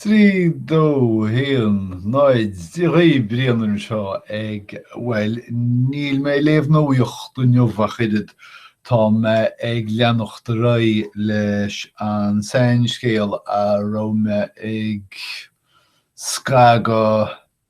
3 2 1 0 Dia dhaoibh, Brian anseo ag, bhuel, níl mé ag léamh nuaíocht inniu ach oiread, tá mé ag leanacht ar aghaidh leis an seanscéal a raibh mé ag scagadh,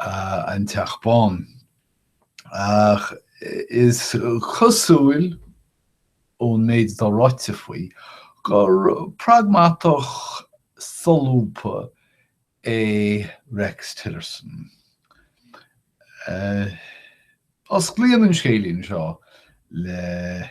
an Teach Bán. Ach is cosúil, ón méid atá ráite faoi, gur pragmatach solúbtha é Rex Tillerson. Osclaíonn an scéilín seo le.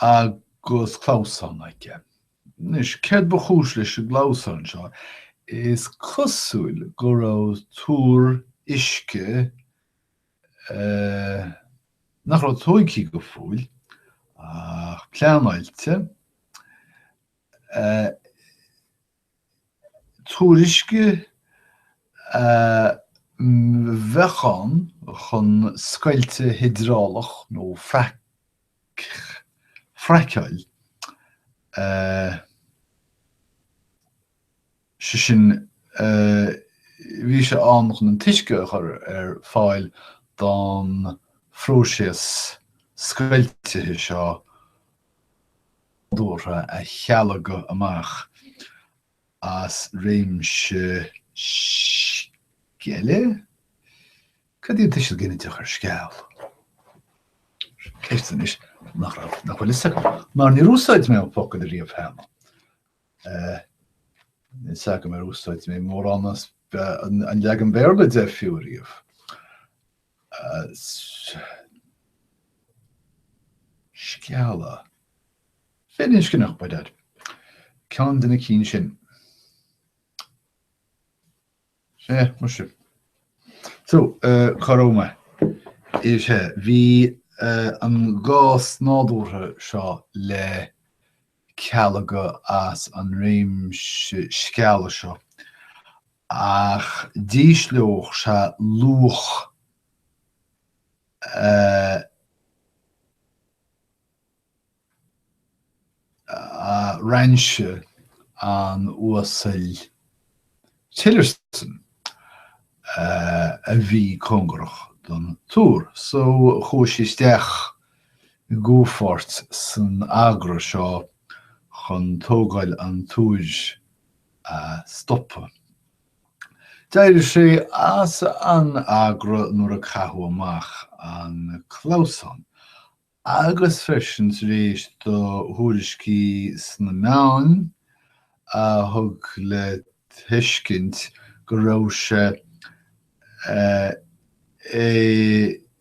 agus clamhsán aige. Anois, céard ba chúis leis an gclamhsán seo? Is cosúil go raibh túr uisce nach raibh tóigthe go fóill ach pleanáilte, túr uisce a bheadh ann chun scoilteadh hiodrálach nó fraiceáil, sé sin, bhí sé ann chun an t-uisce a chur ar fáil don phróiseas scoiltithe seo, nádúrtha a chealgadh amach as réimse sceille? Cad í an tuiseal ginideach ar sceall? Ceist anois nach raibh, nach bhfuil fhios agam, mar níor úsáid mé an focal riamh cheana. Níl fhios agam ar úsáid mé mórán as an leagan Béarla de fiú riamh. scealla. Firinscneach, by dad. Ceann de na cinn sin. Sea, muise. So, cá raibh mé? Sea, bhí an gás nádúrtha seo le cealgadh as an réimse scealla seo ach d'ísleodh sé luach rainse an uasail Tillerson a bhí cóngarach don túr. So chuaigh sé isteach i gcomhpháirt san agra seo chun tógáil an túir a stopadh. D'éirigh sé as an agra nuair a caitheadh amach an clamhsán, agus freisin tar éis do thuairiscí sna meáin a thug le tuiscint go raibh sé ag.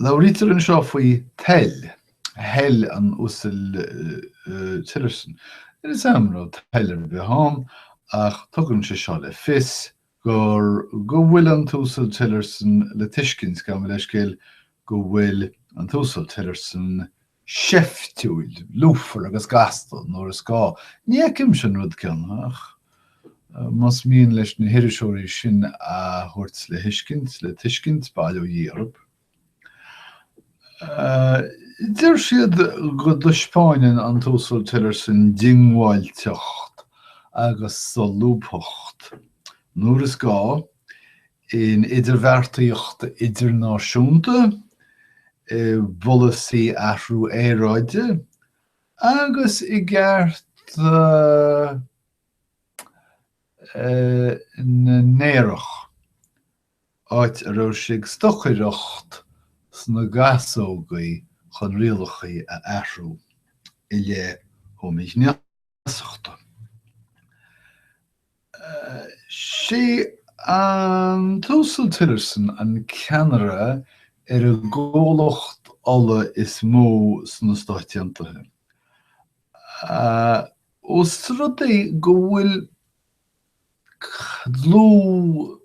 Labhraítear anseo faoi toil, thoil an uasail Tillerson. Is amhras toil ar bith ann, ach tugann sé seo le fios gur go bhfuil an t-uasal Tillerson le tuiscint, gabh mo leithscéal, go bhfuil an t-uasal Tillerson seiftiúil, lúfar agus gasta nuair is gá. Ní fheicimse an rud céanna, ach más mian leis na hiriseoirí sin a thabhairt le thuiscint, le tuiscint, bail ó Dhia oraibh. Deir siad go dtaispeánann an tUasal Tillerson diongbháilteacht agus solúbthacht nuair is gá, in idirbheartaíocht idirnáisiúnta, i bpolasaí athrú aeráide agus i gcearta na n-aerach, áit a raibh sé ag stocaireacht sna gasógaí chun rialacha a athrú i leith homaighné. feasachta. Sé an tUasal Tillerson an ceannaire ar an gcomhlacht ola is mó sna Stáit Aontaithe. Ós rud é go bhfuil dlúth.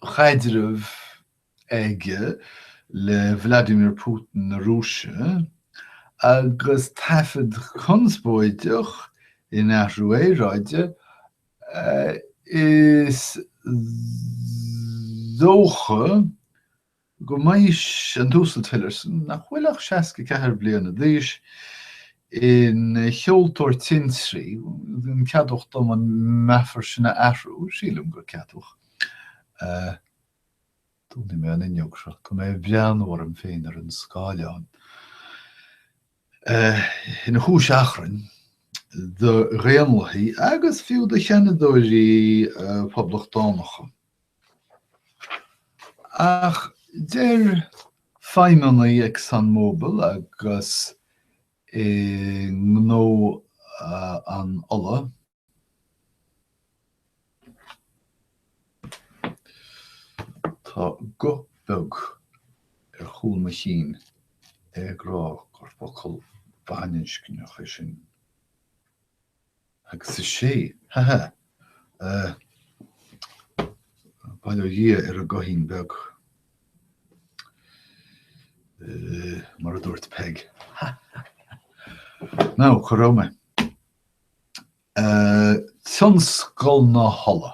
chaidreamh aige le Vladimir Putin na Rúise, agus taifead conspóideach in Athrú Aeráide, is dócha, go mbeidh an tUasal Tillerson, nach bhfuil ach 64 bliana d'aois, ina sheoltóir tintrí, an ceadmhach dom an meafar sin a athrú? Sílim gur ceadmhach é. Dúnfaidh mé an fhuinneog seo. Go mbreathnóidh mé orm féin ar an scáileán. Ina chúis achrainn do Dhaonlathaigh agus fiú do Sheanadóirí Poblachtánacha. Ach deir feidhmeannaigh ExxonMobil agus i ngnó an ola, Tá guth beag ar chúl mo chinn ag rá gur focal baininscneach é sin. Agus is ea, ha ha! Bail ó Dhia ar an gcoithín beag, mar a dúirt Peig. Ha ha ha! Ná cha raibh mé. Tionscal na hola.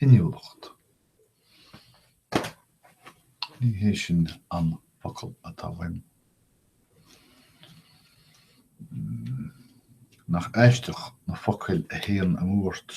inniúlacht. Ní hé sin an focal atá uaim. Nach aisteach na focail a théann amú ort.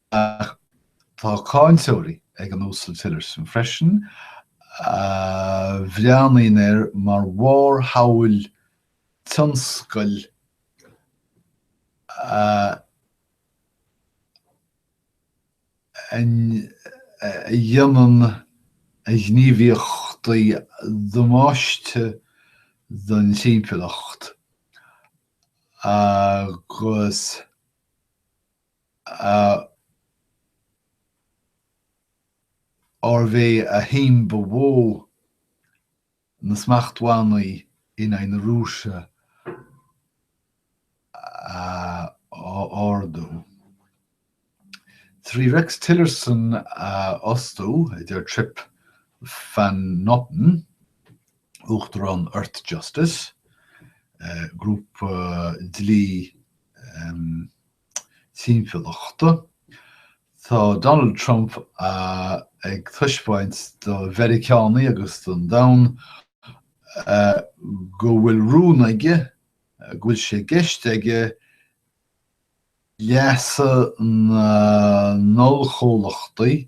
Ach tá cáinteoirí ag an Uasal Tillerson freisin a bhreathnaíonn air mar bharrshamhail tionscail a dhéanann a ghníomhaíochtaí damáiste don timpeallacht agus, arbh é a haon bhua na smachtbhannaí in aghaidh na Rúise a ardú. Trí Rex Tillerson a fhostú, a deir Trip Van Noppen, uachtarán Earth Justice, grúpa dlí, timpeallachta. Tá Donald Trump ag taispeáint do Mheiriceánaigh agus don domhan go bhfuil rún aige, go bhfuil sé i gceist aige leasa na n-ollchomhlachtaí,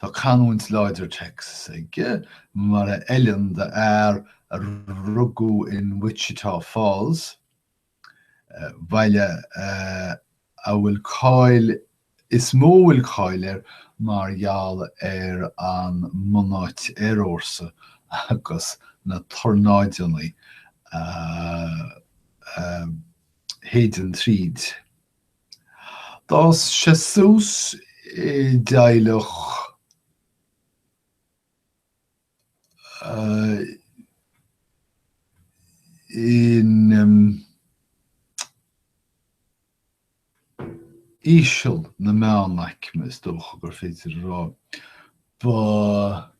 Tá canúint láidir Texas aige, mar a fheileann d'fhear a rugadh in Wichita Falls, baile a bhfuil cáil is mó a bhfuil cáil air mar gheall ar an mbunáit aerfhórsa agus na tornáideanna a shéideann tríd. D'fhás sé suas i dteaghlach íseal na meánaicme, is dócha gur féidir a rá. Ba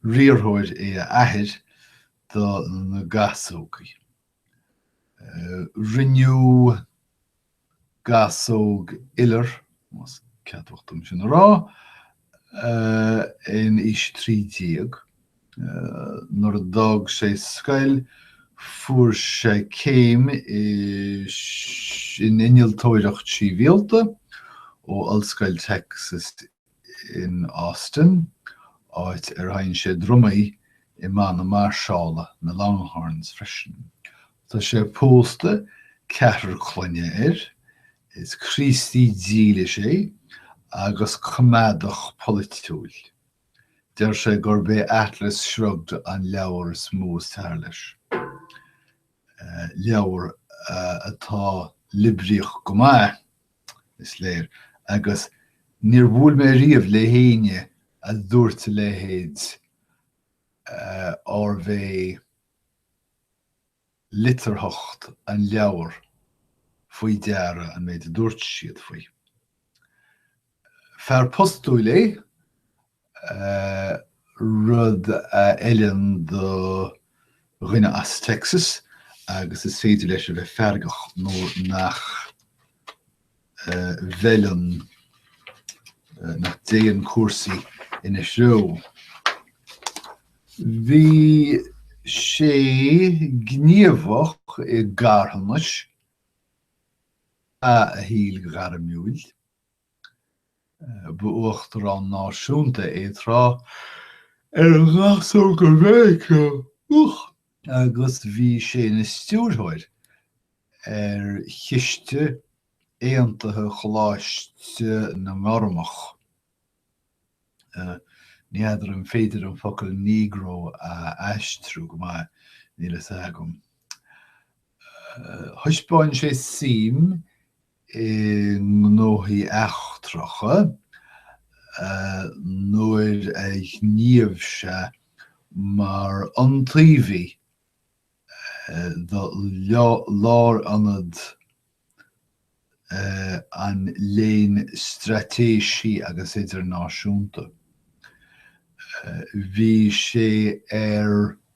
riarthóir é a athair do na gasógaí. Rinneadh gasóg iolair de, más ceadmhach dom sin a rá, in aois trí déag. Nuair a d'fhág sé scoil fuair sé céim in innealtóireacht shibhialta ó Ollscoil Texas in Austin, áit ar sheinn sé drumaí i mbanna mairseála na Longhorns freisin. Tá sé pósta, ceathrar clainne air, is Críostaí dílis é agus coimeádach polaitiúil. Deir sé gurb é Atlas Shrugged an leabhar is mó is fearr leis, leabhar atá liobraíoch go maith, is léir, agus níor bhuail mé riamh le héinne a dúirt a leithéid arbh é litearthacht an leabhair faoi deara an méid a dúirt siad faoi. Fear postúil é, rud a fheileann do dhuine as Texas agus is féidir leis a bheith feargach nuair nach bhfeileann, nach dtéann cúrsaí ina threo. Bhí sé gníomhach i gcarthanas ina shaol gairmiúil. Ba uachtarán náisiúnta é tráth ar Ghasóga Mheiriceá agus bhí sé ina stiúrthóir ar chiste aontaithe Choláiste na nGormach. Ní fheadar an féidir an focal Negro a aistriú go maith, níl a fhios agam. Thaispeáin sé suim i ngnóthaí eachtracha, nuair a ghníomh sé mar iontaobhaí do Lárionad an Léinn Straitéisí agus Idirnáisiúnta. Bhí sé ar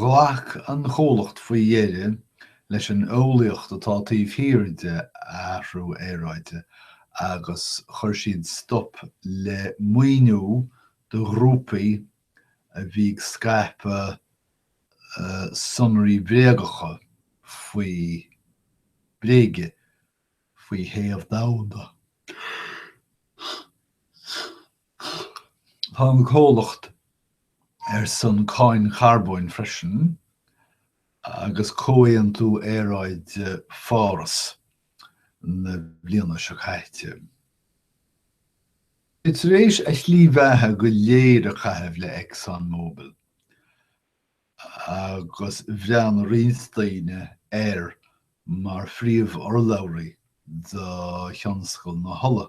Ghlac an comhlacht faoi dheireadh leis an eolaíocht atá taobh thiar de athrú aeráide agus chuir siad stop le maoiniú do ghrúpaí a bhí ag scaipeadh sonraí bréagacha faoi bréige faoi théamh domhanda. Tá an comhlacht ar son cáin charbóin freisin agus comhaontú aeráide Pháras na bliana seo caite. É tar éis a shlí bheatha go léir a chaitheamh le Exxon Mobil agus bhreathnaigh roinnt daoine air mar phríomh-urlabhraí do thionscal na hola.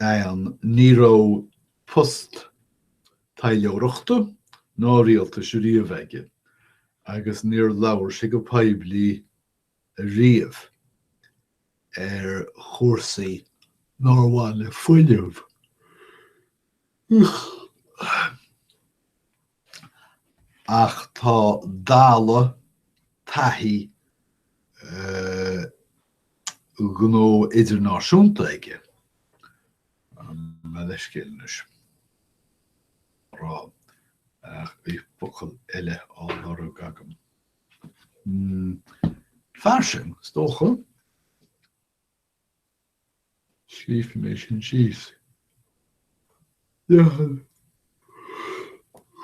ann, ní raibh post taidhleoireachta ná rialtais riamh aige agus níor labhair sé go poiblí riamh ar chúrsaí nár bhain le fuinneamh. Ach tá dalladh taithí ghnó idirnáisiúnta aige. Gabh mo leithscéal anois ag rá nach mbeidh focal eile á lorg agam. Fairsing, is dócha. Scríobhfaidh mé sin síos. Dheamhan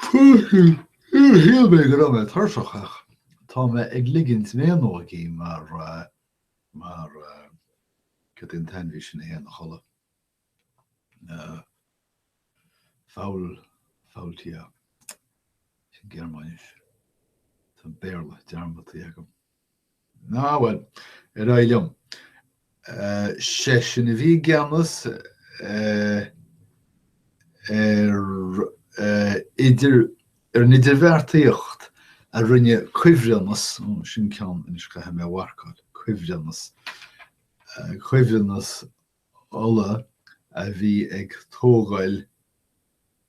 fúthu. Shíl mé go raibh mé tuirseach ach tá mé ag ligint méanógaí mar, mar, cad é an t-ainmhí sin a théann a chodladh? Faul, Faultier. Sin Gearmáinis. Tá an Béarla dearmadta agam. Á, bhuel, ar aghaidh liom. Seisean a bhí i gceannas ar an idirbheartaíocht a rinne cuibhreannas, ó, sin ceann, anois caithfidh mé a mharcáil, cuibhreannas, cuibhreannas ola a bhí ag tógáil,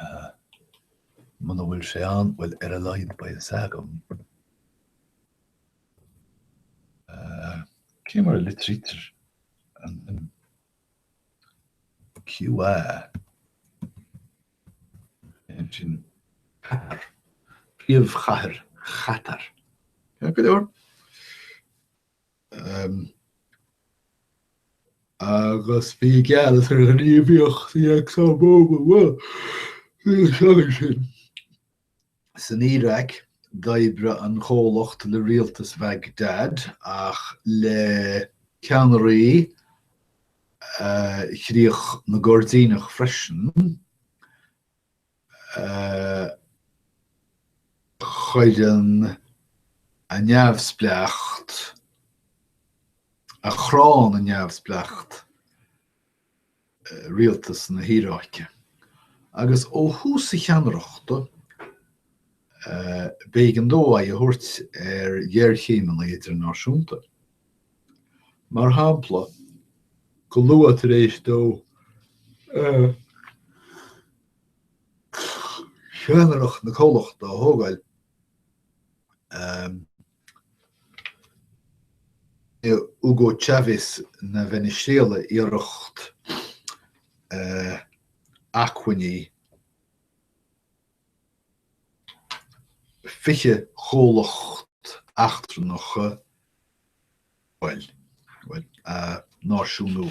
a. Muna bhfuil sé ann, bhuel, ar a laghad beidh a fhios agam, a. Cé mar a litrítear an QA? Ansin. Catar. Príomhchathair Chatar. Go leor. agus bhí i gceannas ar ghníomhaíochtaí Exxon Mobil faoi na seachain sin. San Iaráic, d'oibrigh an chomhlacht le rialtas Bhagdad ach le ceannairí chríoch na gCoirdíneach freisin. a chuireann a neamhspleáchas, a chránn a neamhspleáchas, rialtas na hIaráice, agus ó thús a cheannaireachta, b'éigean dó aghaidh a thabhairt ar ghéarchéimeanna idirnáisiúnta. Mar shampla, go luath tar éis dó cheannaireacht na comhlachta a thógáil, Hugo Chávez na Veiniséala iarracht acmhainní fiche chomhlacht eachtrannach a náisiúnú.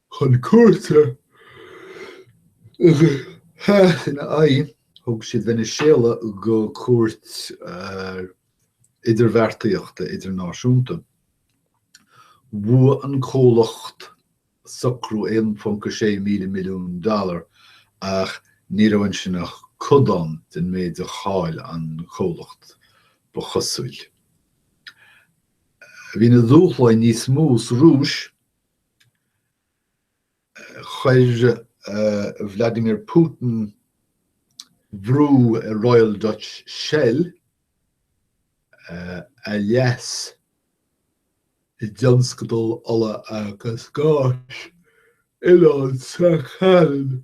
chun cúirte ina aghaidh, thug siad Veiniséala go cúirt idirbheartaíochta idirnáisiúnta. Bhua an comhlacht socrú 1.6 míle milliún dollar, ach ní raibh ansin ach codán den méid a chaill an comhlacht, ba chosúil. Bhí na dúshláin níos mó sa Rúis. chuir Vladimir Putin brú ar Royal Dutch Shell a leas i dtionscadal ola agus gáis Oileán Sakhalin.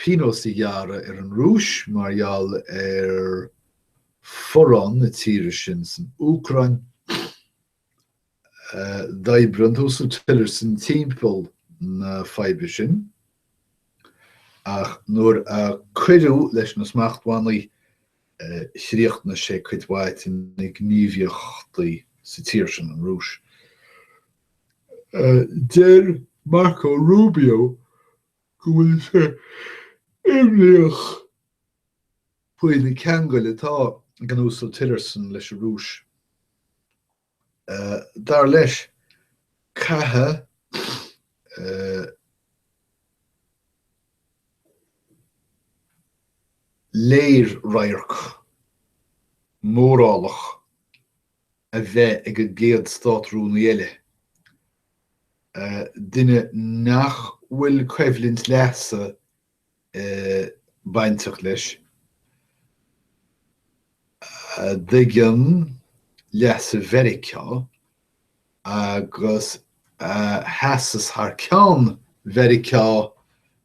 pionós a ghearradh ar an Rúis mar gheall ar fhorrán na tíre sin san Úcráin. D'oibrigh an tUasal Tillerson timpeall na faidhbe sin, ach nuair a cuireadh leis na smachtbhannaí, chríochnaigh sé cuid mhaith de na gníomhaíochtaí sa tír sin, an Rúis. Deir Marco Rubio go bhfuil sé imníoch faoi na ceangail atá ag an Uasal Tillerson leis an Rúis. Dar leis, caithfidh léir-radharc morálach a bheith ag an gcéad Státrúnaí eile, duine nach bhfuil coimhlint leasa bainteach leis, a thuigeann leasa Mheiriceá agus a sheasas thar ceann Mheiriceá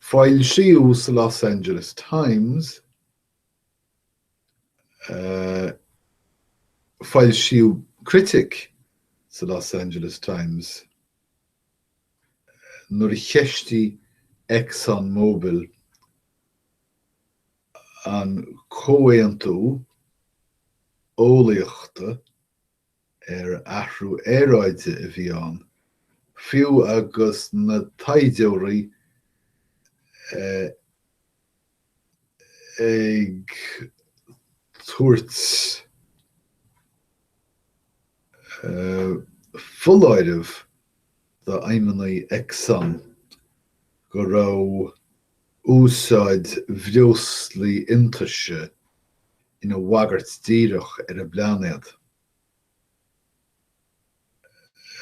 Foilsíodh sa Los Angeles Times, foilsíodh critic sa Los Angeles Times nuair a cheistigh ExxonMobil an Comhaontú Eolaíochta, ar athrú aeráide a bhí ann, fiú agus na taighdeoirí ag tabhairt foláirimh d'fheidhmeannaigh Exxon go raibh úsáid bhreoslaí iontaise ina bhagairt díreach ar an bpláinéad.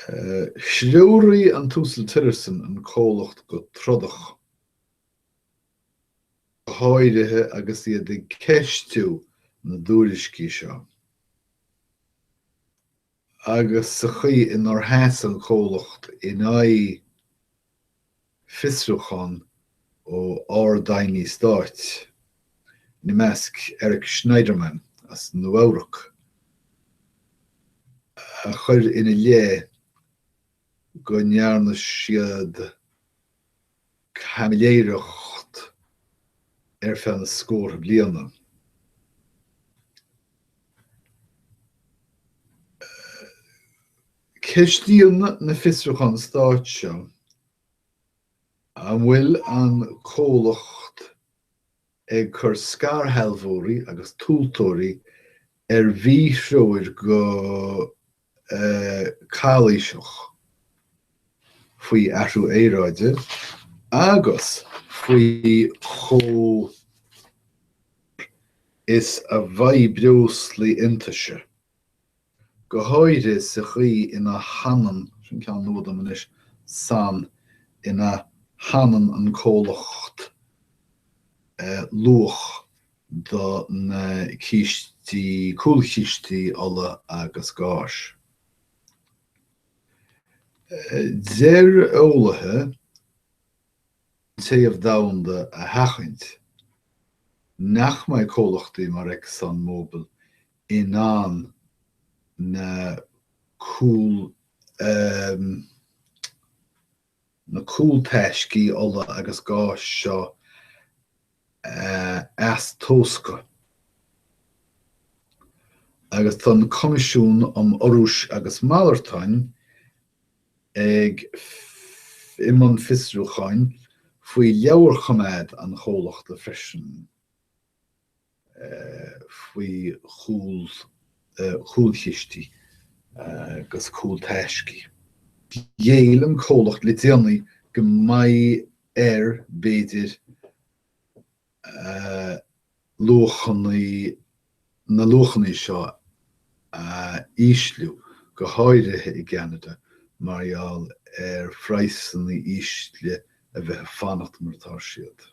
Threoraigh an tUasal Tillerson an comhlacht go trodach, go háirithe agus iad ag ceistiú na dtuairiscí seo. agus sa chaoi inar sheas an comhlacht in aghaidh fiosrúchán ó Ard-Aighní Stáit, ina measc Eric Schneiderman as Nua-Eabhrac, a chuir ina leith go ndearna siad. caimiléireacht ar feadh na scórtha bliana. Ceistíonn na fiosrúcháin stáit seo an bhfuil an comhlacht ag cur scairshealbhóirí agus tomhaltóirí ar mhíthreoir go. calaoiseach faoi athrú aeráide agus faoi chomh is a bheidh breoslaí iontaise, go háirithe sa chaoi ina shannann sin ceann nua dom anois san ina shannann an comhlacht luach. do na cístí, cúlchistí ola agus gáis. Deir eolaithe an téamh domhanda a sheachaint nach mbeidh comhlachtaí mar Exxon Mobil in ann na cúlchistí, na cúltaiscí ola agus gáis seo a eastóscadh, agus tá an Coimisiún um Urrúis agus Malartáin ag i mbun fiosrúcháin faoi leabharchoimeád an chomhlachta freisin. faoi chúlchistí agus cúltaiscí. Ghéill an comhlacht le déanaí go mbeidh air, b'fhéidir, luachannaí na luachannaí seo a ísliú, go háirithe i gCeanada, mar gheall ar phraghsanna ísle a bheith ag fanacht mar atá siad.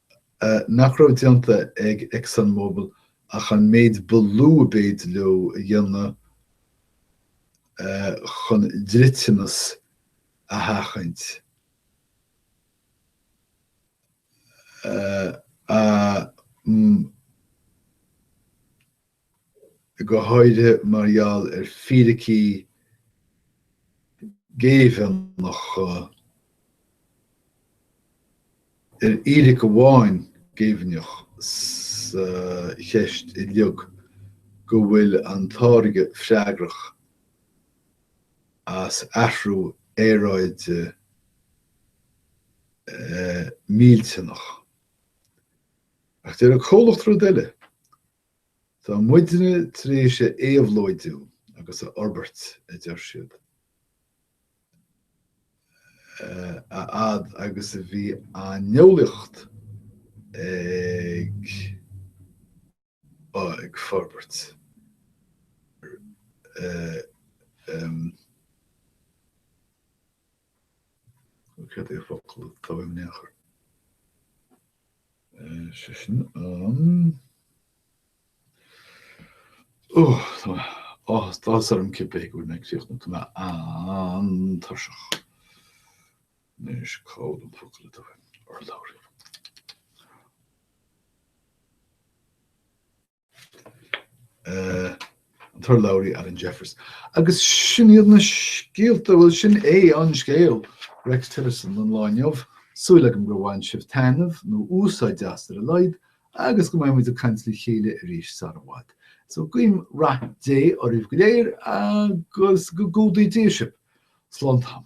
nach raibh déanta ag ExxonMobil ach an méid ba lú ab fhéidir leo a dhéanamh chun dliteanas a sheachaint, a go háirithe mar gheall ar fíricí géibheannacha, ar fhíric amháin géibheannach sa cheist uilig, go bhfuil an táirge freagrach as athrú aeráide millteanach. Ach deir an comhlacht rud eile. Tá muidne tar éis a éabhlóidiú agus a fhorbairt, a deir siad, a fhad agus a bhí an eolaíocht ag forbairt. Cad é an focal atá i ndiaidh? Sé sin an, ó, tá mé, áthas orm cibé ar bith go bhfuil mé ag críochnú, tá mé an-tuirseach. Anois cá bhfuil an focal tá, an t-urlabhraí? an t-urlabhraí Alan Jeffers. Agus sin iad na scéalta, bhuel sin é an scéal, Rex Tillerson an lá inniu. Súil agam gur bhain sibh taitneamh, nó úsáid as ar a laghad, agus go mbeidh muid ag caint le chéile arís sara bhfad. So guím rath Dé oraibh go léir agus go gcumhdaí Dia sibh. Slán tamaill.